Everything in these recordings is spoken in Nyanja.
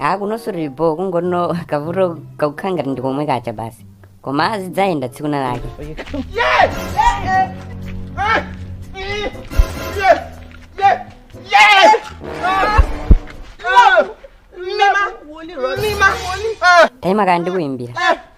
a kunonso sitili bho kungoti kavuto kakukhala ngati ndi komwe kacha basi koma azidzayenda tsiku lina lake taima kaye ndikuyimbira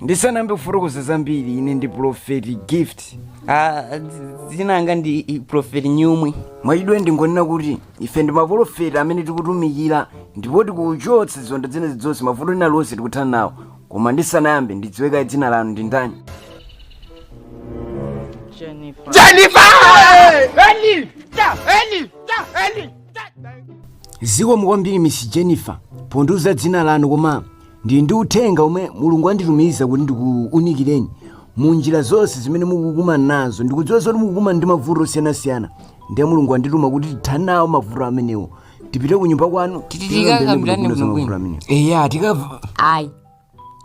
ndisanayambe kufotokoza zambiri ine ndi profeti gift anzanga ndi profeti nyumwi mwachidule ndingonena kuti ife ndi maprofeti amene tikutumikira ndipo tikuchotsa ziwanda zina zilizonse mavuto ena aliwonse tikuthana nawo koma ndisanayambe ndidziwe kaye dzina lanu ndi ndani zikomo kwambiri miss jennifer pondiuza dzina lanu koma ndili ndi uthenga omwe mulungu anditumiza kuti ndikuunikireni mu njira zonse zimene mukukumana nazo ndikudziwa zoti mukukumana ndi mavuto osiyanasiyana ndiye mulungu andituma kuti tithane nawo mavuto amenewo tipite ku nyumba kwanu tikakambilane bwino bwino zimenezo ayi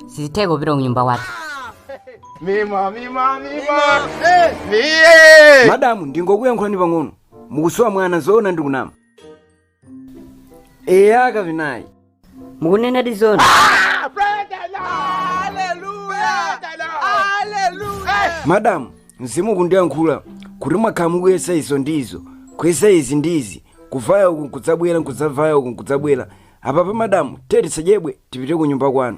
sizitheka kupita ku nyumba kwathu madamu ndingokuyankhulani pang'ono mukusowa mwana zoona ndikunama eya kapena ayi mukunenadi zoona madamu mzimu ukundiyankhula kuti mwakhala mukuyesa izo ndi izo kuyesa izi ndi izi kuvaya uku nkudzabwera nkudzavaya uku nkudzabwera apapa madamu tiyeni tisachedwe tipite ku nyumba kwanu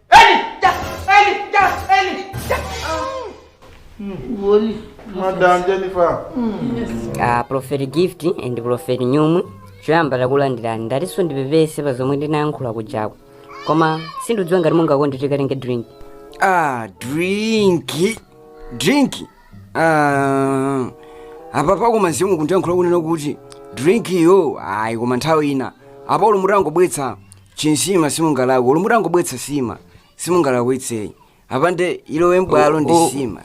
Woli, Madam Jennifer. a prophet gift and prophet nyumwi choyamba takulandirani ndatinso ndipepese pa zomwe ndinayankhula kujako koma sindidziwa ngati mungakonde tikalenge drink ah drinki drinki ah, apa pakoma mzimu ukundiyankhula kunena kuti drinkiyo ayi koma nthawi ina apa olo mutangobweretsa chinsima simungalakwe olo mutangobweretsa nsima simungalakwitse ayi apande ilowe mbwalo nsima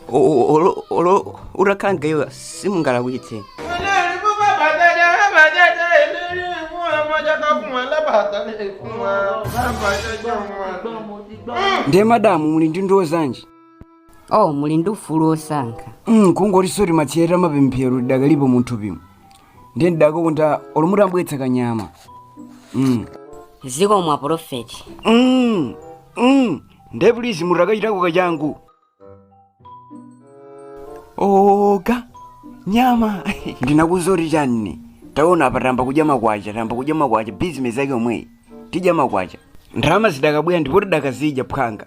olo utakhanga iwe simungalakwitse ndiye madamu muli ndi ndiwo zanji oh muli ndi ufulu wosankha mm, kungotinso matsiyeta mapemphero lidakalipo munthu pimo ndiye ndidakonda olo mutatibweretsera kanyama mm. zikomo a profeti mm. mm. ndiye please mutakachitako kachangu oga nyama ndinakuuza kuti chani taona apa tayamba kudya makwacha tayamba kudya makwacha bizinesi yake yomweyi tidya makwacha ndalama zidakabwera ndipo tidakazidya phwanga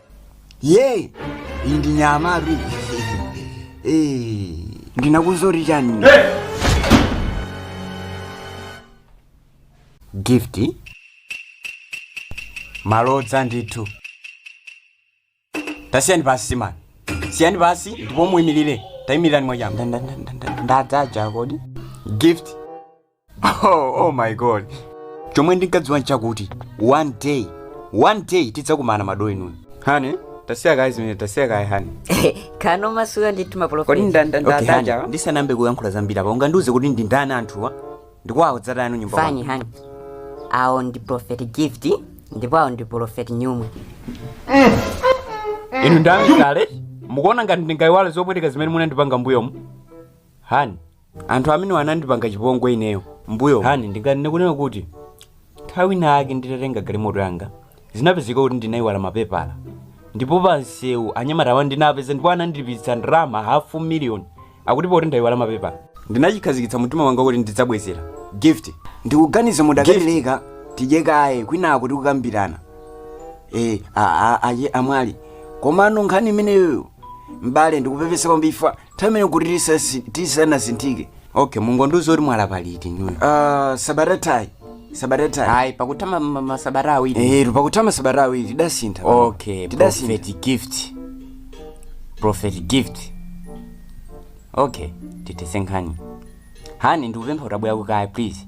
ye iyi ndi nyamatu iyi, ndinakuuzani chani gift malodza ndithu tasiyani pansi siyani siyani pansi ndipo muyimirire tayimirirani mwachangu ndadzaja kodi gift oh, oh my god chomwe ndinkadziwa nchakuti one day one day tidzakumana madolo inu hani tasiya kaye zimene tasiya kaye hani kamasuka ndi timapolofeti Okay, hani, ndisanayambe kuyankhula zambiri apa ungandiuze kuti ndi ndani anthuwa ndikwawo dzatayanu nyumba kwanu. fayini hani awo ndi profeti gift ndipo awo ndi profeti nyumwe inu ndamtale mukuona ngati ndingayiwale zopweteka zimene munandipanga mbuyomu hani anthu amenewa anandipanga chipongwe ineyo mbuyomu hani ndinganene kunena kuti nthawi ina yake nditatenga galimoto yanga zinapezeka kuti ndinayiwala mapepala ndipo pansewu anyamata awa anandipeza ndipo anandilipitsitsa ndalama hafu miliyoni akuti pakuti ndayiwala mapepala ndinachikhazikitsa mumtima wanga kuti ndidzabwezera gift ndikuganiza mukadatileka tidye kaye kwinako tikukambirana e, a, a, aye amwali komano nkhani imeneyoyo m'bale ndikupepesa kwambiri nthawi imene kuti tisasi- tisanasinthike okay mungondiuza kuti mwalapa liti inuyo Ah, sabata yathayi sabata yathayi ayi pakutha ma- ma- masabata awiri Eh, pakutha masabata awiri tidasintha okay tidasintha prophet gift prophet gift okay titese nkhani hani ndikupempha utabwera kuno kaye please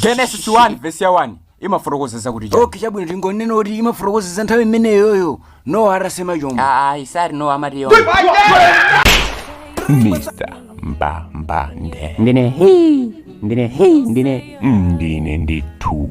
genesis 1 vesi ya 1 imafotokoza zakuti chani? okay chabwino tingonene kuti imafotokoza za nthawi imeneyoyo nowa atasema chombo ayi sorry no amati yomwe mr mbambande ndine hi ndine hi ndine ndine ndithu